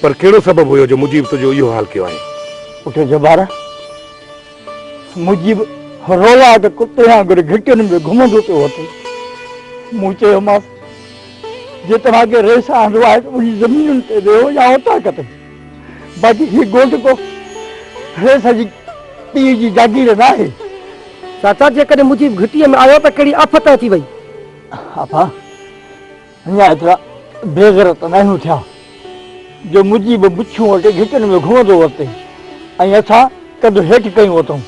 پر ڪهڙو سبب هيو جو مجيب تنهنجو اهو حال ڪيو آهين؟ پٽ جبار، مجيب روئا ته ڪتي وانگر گهٽين ۾ گهمندو پيو وتو. مون چيومانس، جي توهان کي ريس آندو آهي ته منهنجي زمينن تي ويهو يا اوطاق تي. باقي هي ڳوٺ ڪو ريس جي پيء جي جاگير ناهي. چاچا، جيڪڏهن مجيب گهٽيء ۾ آيو ته ڪهڙي آفت اچي وئي؟ آپا! اڃا ايترا بي غيرت ناهيون ٿيا جو مجيب مڇون وٽي گهٽين ۾ گهمندو ورتئي ۽ اسان ڪنڌ هيٺ ڪيون ورتئون.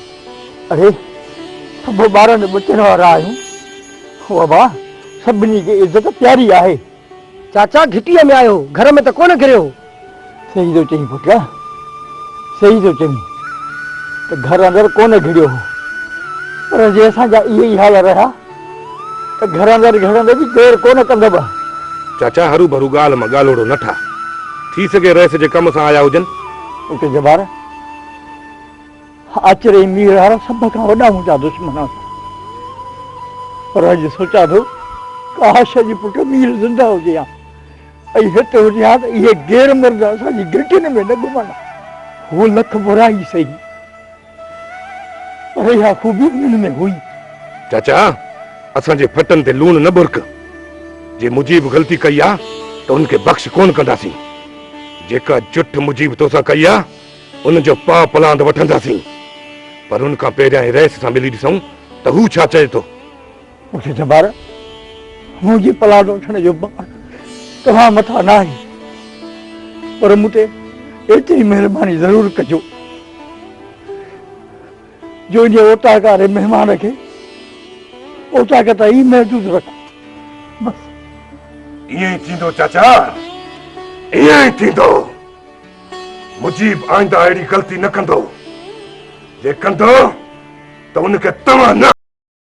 اڙي سڀ ٻارن ٻچن وارا آهيون. هو ابا سڀني کي عزت پياري آهي. چاچا گهٽيء ۾ آهيو گهر ۾ ته ڪونه گهريو. صحيح ٿو چئين پٽ، صحيح ٿو چئين ته گهر اندر ڪونه گهڙيو هو، پر جي اسان جا اهي ئي حال رهيا ته گهر اندر گهڙڻ ۾ به دير ڪونه ڪندبه. چاچا هرو ڀرو ڳالهه مان ڳالهوڙو نه ٺاهه، ٿي سگهي رئيس جي ڪم سان آيا هجن. پٽ جبار، آچر ۽ ميرهار سڀ کان وڏا منهنجا دشمن هئا، پر اڄ سوچان ٿو ڪاش اڄ پٽ مير زنده هجي ها. اي هت هجي ها ته اهي غير مرد اسان جي گهٽين ۾ نه گهمن ها. هو لک ڀورا ئي سهي پر اها خوبي انهن ۾ هئي. چاچا اسان جي ڦٽن تي لوڻ نه ٻرڪ. جي مجيب غلطي ڪئي آ ته ان کي بخش ڪونه ڪنداسين. جيڪا جٺ مجيب تو سان ڪئي آ ان جو پاء پلاند وٺنداسين. پر ان کان پهريائين رئيس سان ملي ڏسون ته هو ڇا چئي ٿو. مونکي جبار منهنجي پلاٽ وٺڻ جو بار توهان مٿان ناهي پر مون تي ايتري مهرباني ضرور ڪجو جو انهي اوطاق واري مهمان کي اوطاق تائين ئي محدود رکو بس ائين ئي ٿيندو چاچا ائين ئي ٿيندو مجيب آئنده اهڙي غلطي نه ڪندو جي ڪندو ته ان کي توهان نه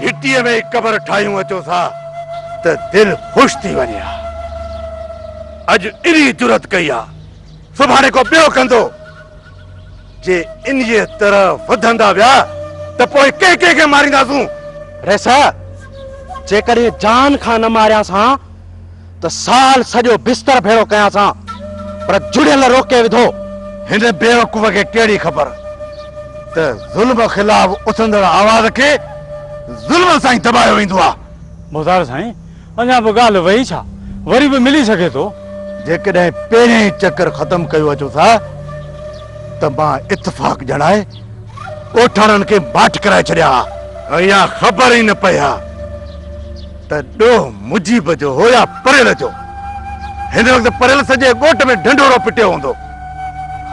گهٽيء ۾ هڪ قبر ٺاهيون اچو ٿا ته دل خوش ٿي وڃي ها. اڄ انهيء جرئت ڪئي آ، سڀاڻي ڪو ٻيو ڪندو. جي انهيء طرح وڌندا ويا ته پوء ڪنهن ڪنهن کي مارينداسون؟ ريسه، جيڪڏهن جان کان نه ماريانس هان. ته سال سڄو بستر ڀيڙو ڪياسان پر جڙيل روڪي وڌو. هن بيوقوف کي ڪهڙي خبر ته ظلم خلاف اٿندڙ آواز کي ظلم سان ئي دٻايو ويندو آهي. مختار سائين اڃا به ڳالهه وئي ڇا؟ وري به ملي سگهي ٿو. جيڪڏهن پهريون ئي چڪر ختم ڪيو اچو ٿا ته مان اتفاق ڄڻائي ڳوٺاڻن کي ماٺ ڪرائي ڇڏيان ها. اها خبر ئي نه پئي ها. ته ڏوهه مجيب جو هو يا پريل جو. هن وقت پريل سڄي ڳوٺ ۾ ڍنڍورو پٽيو هوندو.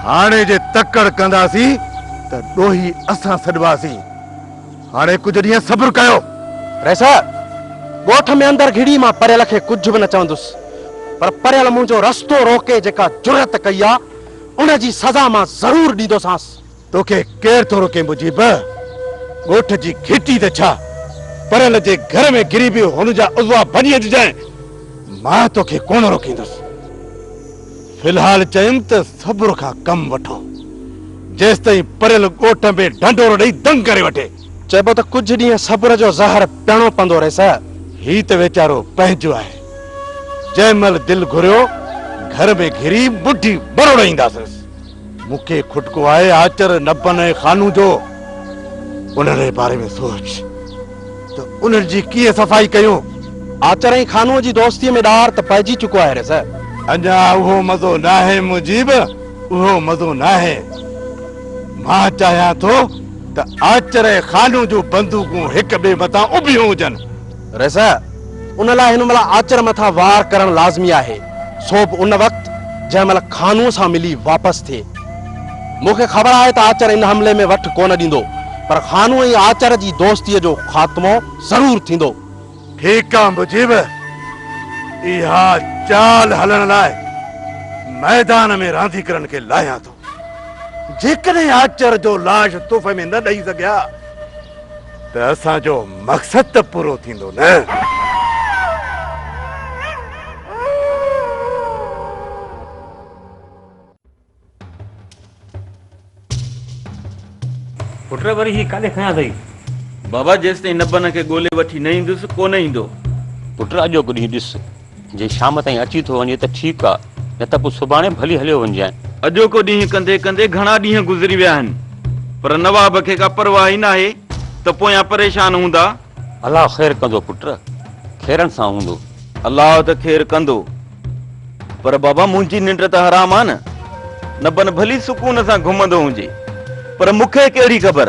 هاڻي جي تڪڙ ڪنداسين ته ڏوهي اسان سڏباسين. هاڻي ڪجهه ڏينهن صبر ڪيو. رئيس! ڳوٺ ۾ اندر گهڙي مان پريل کي ڪجهه به نه چوندس. پر پريل منهنجو رستو روڪي جيڪا جرئت ڪئي آ، ان جي سزا مان ضرور ڏيندوسانس. توکي ڪير ٿو روڪي مجيب! ڳوٺ جي گهٽي ته ڇا، پريل جي گهر ۾ گري به هن جا عضوا ڀڃي اچجانء، مان توکي ڪونه روڪيندس. في الحال چيم ته صبر کان ڪم وٺو، جيستائين پريل ڳوٺ ۾ ڍنڍورو ڏئي دنگ ڪري وٺي. چئبو ته ڪجهه ڏينهن صبر جو زهر پيئڻو پوندو رئيس. هي ته ويچارو پنهنجو آهي، جنهن مهل دل گهريو گهر ۾ گهري مٺي مروڙائينداسينس. مون کي کٽڪو آهي آچر نبن ۽ خانو جو. انهن جي باري ۾ سوچ ته انهن جي ڪيئن صفائي ڪيون. آچر ۽ خانوء جي دوستيء ۾ ڏار ته پئجي چڪو آهي رضا. اڃا اهو مزو ناهي مجيب، اهو مزو ناهي. مان چاهيان ٿو ته آچر ۽ خانو جون بندوقون هڪ ٻئي مٿان اڀيون هجن. رضه، ان لاء هن مهل آچر مٿان وار ڪرڻ لازمي آهي، سو به ان وقت جنهن مهل خانوء سان ملي واپس ٿئي. مون کي خبر آهي ته آچر ان حملي ۾ وٺ ڪونه ڏيندو، پر خانوء ۽ آچر جي دوستيء جو خاتمو ضرور ٿيندو. ٺيڪ آ مجيب، اها چال هلڻ لاء ميدان ۾ رانديڪرن کي لاهيان ٿو. جيڪڏهن آچر جو لاش تحفي ۾ نه ڏئي سگهيا ته اسان جو مقصد ته پورو ٿيندو نه پٽ وري هي ڪاڏي کڻيا اٿئي بابا جيستائين نبن کي ڳولي وٺي نه ايندس ڪو نه ايندو پٽ اڄوڪو ڏينهن ڏس جي شام تائين اچي ٿو وڃي ته ٺيڪ آ نه ته پوء سڀاڻي ڀلي هليو وڃجانء. اڄوڪو ڏينهن ڪندي ڪندي گهڻا ڏينهن گذري ويا آهن پر نواب کي ڪا پرواهه ئي ناهي ته پويان پريشان هوندا. الله خير ڪندو پٽ، خيرن سان هوندو. الله ته خير ڪندو پر بابا منهنجي ننڊ ته حرام آ نه، نبن ڀلي سڪون سان گهمندو هجي پر مون کي ڪهڙي خبر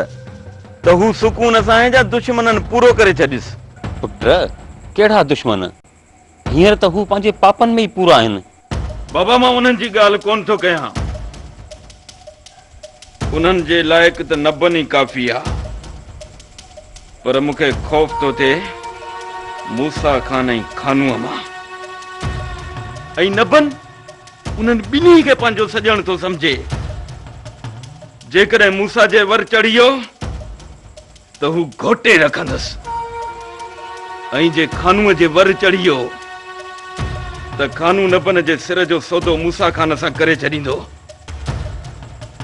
ته هو سڪون اسانهين جا دشمنن پورو ڪري ڇڏيس. پٽ ڪهڙا دشمن؟ هينئر ته هو پنهنجي پاپن ۾ ئي پورا آهن. بابا مان انهن جي ڳالهه ڪونه ٿو ڪيان. انهن جي لائق ته نبن ئي ڪافي آ. پر مون کي خوف ٿو ٿئي موسيٰ خان ۽ خانوء مان. ۽ نبن انهن ٻنهي کي پنهنجو سڄڻ ٿو سمجهي. جيڪڏهن موسيٰ جي ور چڙهي ويو ته هو گهوٽي رکندس ۽ جي خانوء جي ور چڙهي ويو ته خانو نبن جي سر جو سودو موسيٰ خان سان ڪري ڇڏيندو.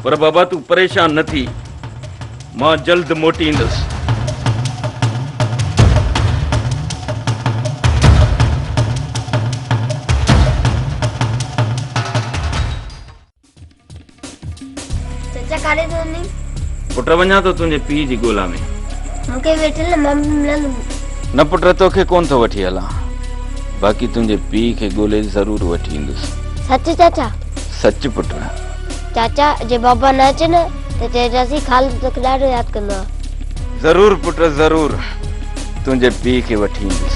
پر بابا تون پريشان نه ٿي، مان جلد موٽي ايندس. چچا ڪاڏي ٿو وڃين؟ پٽ وڃان ٿو تنهنجي پيء جي ڳولا ۾. مون کي وٺ هل مان به ملندم. نه پٽ توکي ڪونه ٿو وٺي هلان باقي تنهنجي پيء کي ڳولي ضرور وٺي ايندس. سچ چاچا؟ سچ پٽ. چاچا جي بابا نه اچي نه ته چئجانسين خالد توکي ڏاڍو ياد ڪندو آهي. ضرور پٽ ضرور تنهنجي پيء کي وٺي ايندس.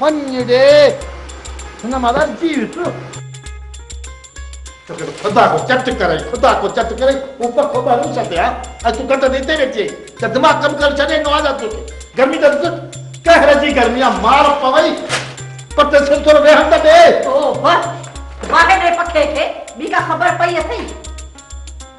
وڃ ڙي هن مان ڏرجي ويس. توکي ته خدا ڪو چٽ ڪرئي خدا ڪو چٽ ڪرئي هو پکو ٻه روس تي آ ۽ تون ڪٽ تي هتي ويٺي آهين ڇا دماغ ڪم ڪرڻ ڇڏي ڏنو آ ڇا توکي گرمي ته ڏس قهر جي گرمي آ مار پوئي پر تي سر ٿورو ويهڻ ته ڏي. اوهه واهه ڙي پکي کي ٻي ڪا خبر پئي اٿئي.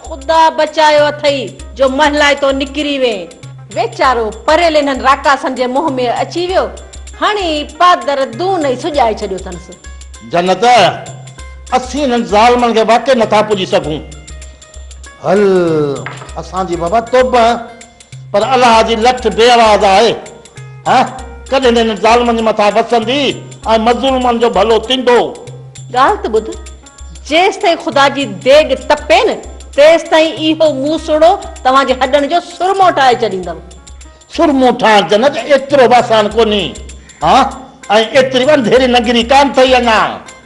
خدا بچايو اٿئي جو مهلائتو نڪري وئين. ويچارو پريل انهن راڪاسن جي منهن ۾ اچي ويو. هڻي پادر دون ئي سڄائي ڇڏيو اٿنس. جنت، اسين انهن ظالمن کي واقعي نٿا پڄي سگهون. هل، اسان جي بابا توبه پر الله جي لٺ بي آواز آهي. هه ڪڏهن نه هنن ظالمن جي مٿان وسندي ۽ مظلومن جو ڀلو ٿيندو. ڳالهه ته ٻڌ، جيستائين خدا جي ديڳ تپي نه، تيستائين اهو مون سوڙهو توهان جي هڏن جو سرمو ٺاهي ڇڏيندم. سرمو ٺاهڻ جنت ايترو به آسان ڪونهي. هه ۽ ايتري به انڌيري نگري ڪانه اٿئي اڃا.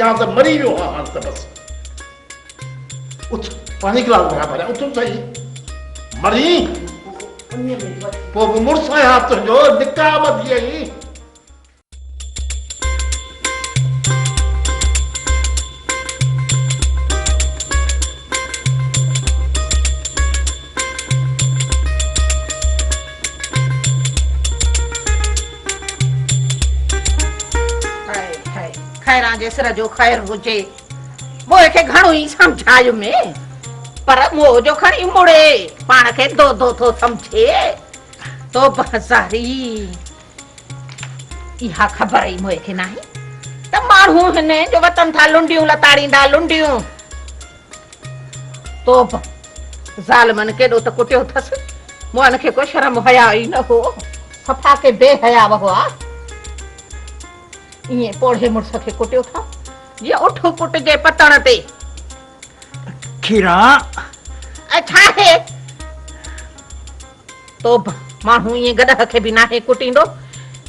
يا ته مري ويو ها هاڻ ته بس. اٿ پاڻي گلاس ڀريان ڀريان اٿ سهي. مرين پوء به مڙس آهيان ها تنهنجو نڪاح ٻڌي ائين. خيران جي سر جو خير هجي مو کي گهڻو ئي سمجهايو مي پر مو جو کڻي مڙي پاڻ کي دو دو ٿو سمجهي تو بهزاري اها خبر ئي مو کي ناهي ته ماڻهو هن جو وطن ٿا لنڊيون لتاڙيندا لنڊيون توبه! ظالمن ڪيڏو ته ڪٽيو اٿس، مؤن کي ڪو شرم و حياء ئي نه هو، صفا ڪي بي حياء هئا. ائين پوڙهي مڙس کي ڪٽيو ٿا، جيئن اٺ پٽ جي پتڻ تي. کيران! اهي ڇا آهي؟ توبھ! ماڻھو ائين گڏهه کي به ناهي ڪٽيندو،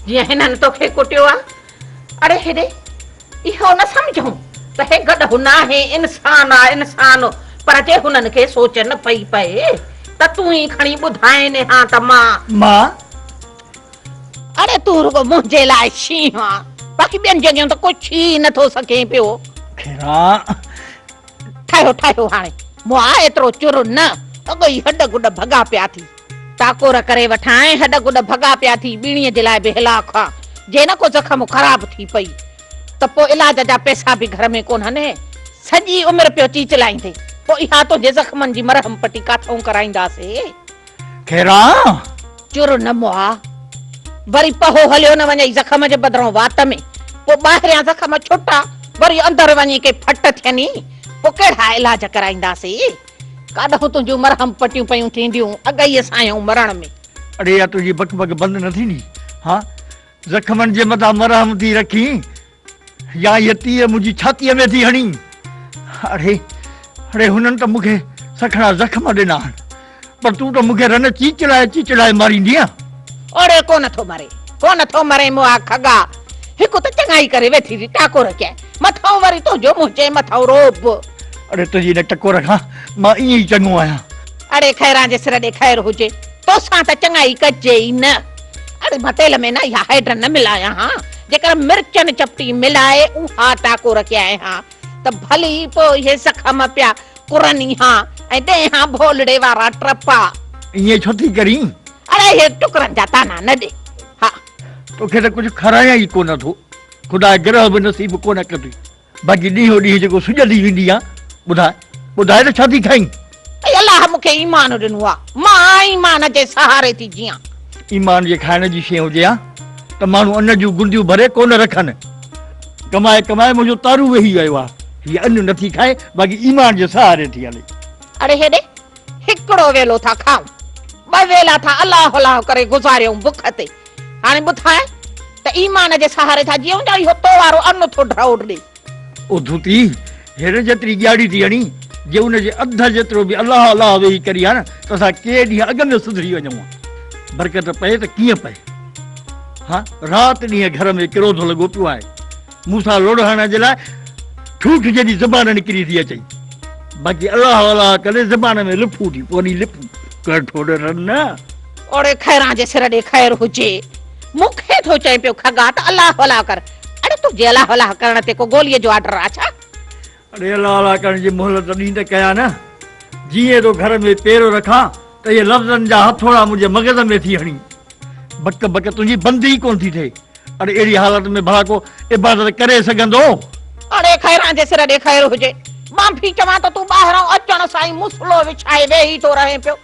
جيئن هنن توکي ڪٽيو آ. اڙي هيڏي! اهو نه سمجهون ته هي گڏهه ناهي، انسان آ، انسان! پر جي هنن کي سوچ نه پئي پئي ته تون ئي کڻي ٻڌائين ها ته مان. مان؟ اڙي تون رڳو منهنجي لاء شينهن آ، باقي ٻين جڳهين ته ڪجهه ٿي ئي نه ٿو سگهين پيو. کيران! ٺاهيو ٺاهيو هاڻي مون آء ايترو چر نه اڳ ئي هڏ گڏ ڀڳا پيا ٿي. ٽاڪور ڪري وٺان ۽ هڏ گڏ ڀڳا پيا ٿي ٻيڻي جي لاء به هلاڪ هئا. جي نه ڪو زخم خراب ٿي پئي ته پوء علاج جا پئسا به گهر ۾ ڪونهن. سڄي عمر پيو چيچلائيندين پوء اها تنهنجي زخمن جي مرهم پٽي ڪاٿئون ڪرائينداسين. کيران! چر نه مئا، وري پهو هليو نه وڃئي زخم جي بدران وات ۾، پوء ٻاهريان زخم ڇٽا، وري اندر وڃي ڪي ڦٽ ٿين ئي، پوء ڪهڙا علاج ڪرائينداسين؟ ڪاڏهون تنهنجون مرهم پٽيون پيون ٿينديون، اڳئي سايون مرڻ ۾. اڙي اها تنهنجي بڪ بڪ بند نه ٿيندي؟ ها! زخمن جي مدان مرهم ٿي رکين يا هيء تيء منهنجي ڇاتيء ۾ ٿي هڻين. اڙي، اڙي هنن ته مونکي سکڻا زخم ڏنا آهن، پر تون ته مونکي رن چيچڙائي چيچڙائي ماريندينء. اڙي ڪو نٿو مري، ڪو نٿو مري مئا کڳا، هڪ ته چڱائي ڪري ويٺي ٿي ٽاڪور ڪيائين، مٿئون وري تنهنجو منهنجي مٿئون رعب. اڙي تنهنجي ان ٽڪور کان مان ائين ئي چڱو آهيان. اڙي خيران جي سر ڏي خير هجي، توسان ته چڱائي ڪجي ئي نه. اڙي ڀتيل ۾ نه اها هيڊ نه ملايان ها، جيڪر مرچن چپٽي ملائي اها ٽاڪو رکيائين ها ته ڀلي پوء اهي زخم پيا ڪرن ئي ها ۽ ڏئين ها ڀولڙي وارا ٽرپا. ائين ڇو ٿي ڪرين؟ اڙي اهي ٽڪرن جا طعنا نه ڏي ها. توکي ته ڪجهه کارائيان ئي ڪونه ٿو. خدا گرهه به نصيب ڪونه ڪندي. باقي ڏينهون ڏينهن جيڪو سڄندي ويندي آن ٻڌاء ٻڌاء ته ڇا ٿي کائين؟ اي الله مون کي ايمان ڏنو آ مان آئين ايمان جي سهاري ٿي جيئان. ايمان جي کائڻ جي شي هجي ها ته ماڻهو ان جون گنديون ڀري ڪونه رکن. ڪمائي ڪمائي منهنجو تارو ويهي ويو آ هيء ان نٿي کائي باقي ايمان جي سهاري ٿي هلي. اڙي هيڏي هڪڙو ويلو ٿا کائون ٻه ويلا ٿا الله الله ڪري گذاريون بک تي. هاڻي ٻڌاء ته ايمان جي سهاري ٿا جيئون يا اهو تو وارو ان ٿو ڍؤڙ ڏي. اڌ ٿي هن جيتري ڄاڙي ٿي هڻي، جي ان جي اڌ جيترو به الله الله ويهي ڪري ها نه ته اسان ڪي ڏينهن اڳ ۾ سڌري وڃون ها. برڪت پئي ته ڪيئن پئي. ها رات ڏينهن گهر ۾ ڪروڌ لڳو پيو آهي. مون سان لڙهڻ جي لاء ٺوٺ جيڏي زبان نڪري ٿي اچئي، باقي الله الله ڪندي زبان ۾ لڦون ٿي پوندي لپون، ڪهڙ ٺوڏ رن نه. اوڙي خيران جي سر ڏي خير هجي. مون کي ٿو چئين پيو کڳا ته الله الله ڪر، اڙي تنهنجي الله الله ڪرڻ تي ڪو گوليء جو آرڊر آ ڇا؟ اڙي الله الله ڪرڻ جي مهلت ڏين ته ڪيان نه، جيئن ٿو گهر ۾ پيرو رکان ته اهي لفظن جا هٿوڙا منهنجي مغز ۾ ٿي هڻين. بڪ بڪ تنهنجي بند ئي ڪونه ٿي ٿئي. اڙي اهڙي حالت ۾ ڀلا ڪو عبادت ڪري سگهندو؟ اڙي خيران جي سر ڏي خير هجي. مان ڀي چوان ته تون ٻاهران اچڻ سان ئي مصلو وڇائي ويهي ٿو رهين پيو.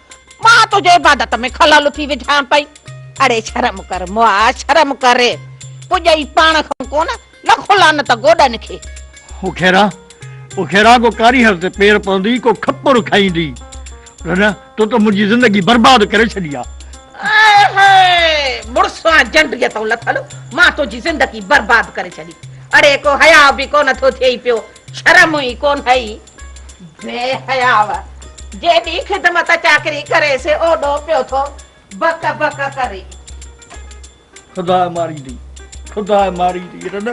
مان تنهنجي عبادت ۾ خلل ٿي وجهان پئي. اڙي شرم ڪر مئا شرم ڪر. پڄئي پاڻ کان ڪونه. لکون لعنت گوڏن کي. او خيرا! او خيرا! ڪو ڪاريهر تي پير پوندي، ڪو کپر کائيندي. رنه، تو ته منهنجي زندگي برباد ڪري ڇڏي آ. آئي هاء! مڙسان جنڊيء تون لٿل، مان تنهنجي زندگي برباد ڪري ڇڏي. اڙي ڪو حياء به ڪونه ٿو ٿئي پيو، شرم ئي ڪونهئي. بي حياء! جيڏي خدمت چاڪري ڪري سي اوڏو پيو ٿو بڪ بڪ ڪرين. خدا ماريندي خدا ماريندي رن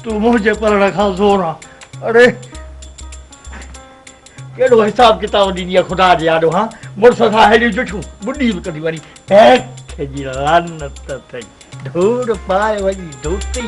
تون منهنجي پرڻ کان زور آ اڙي ڪهڙو حساب ڪتاب ڏيندي آ خدا جي آڏو ها مڙس سان ههڙيون جٺيون ٻڏي به ڪندي وڃي هيڪ جي لعنت اٿئي ڌوڙ پاء وڃي ڌوتي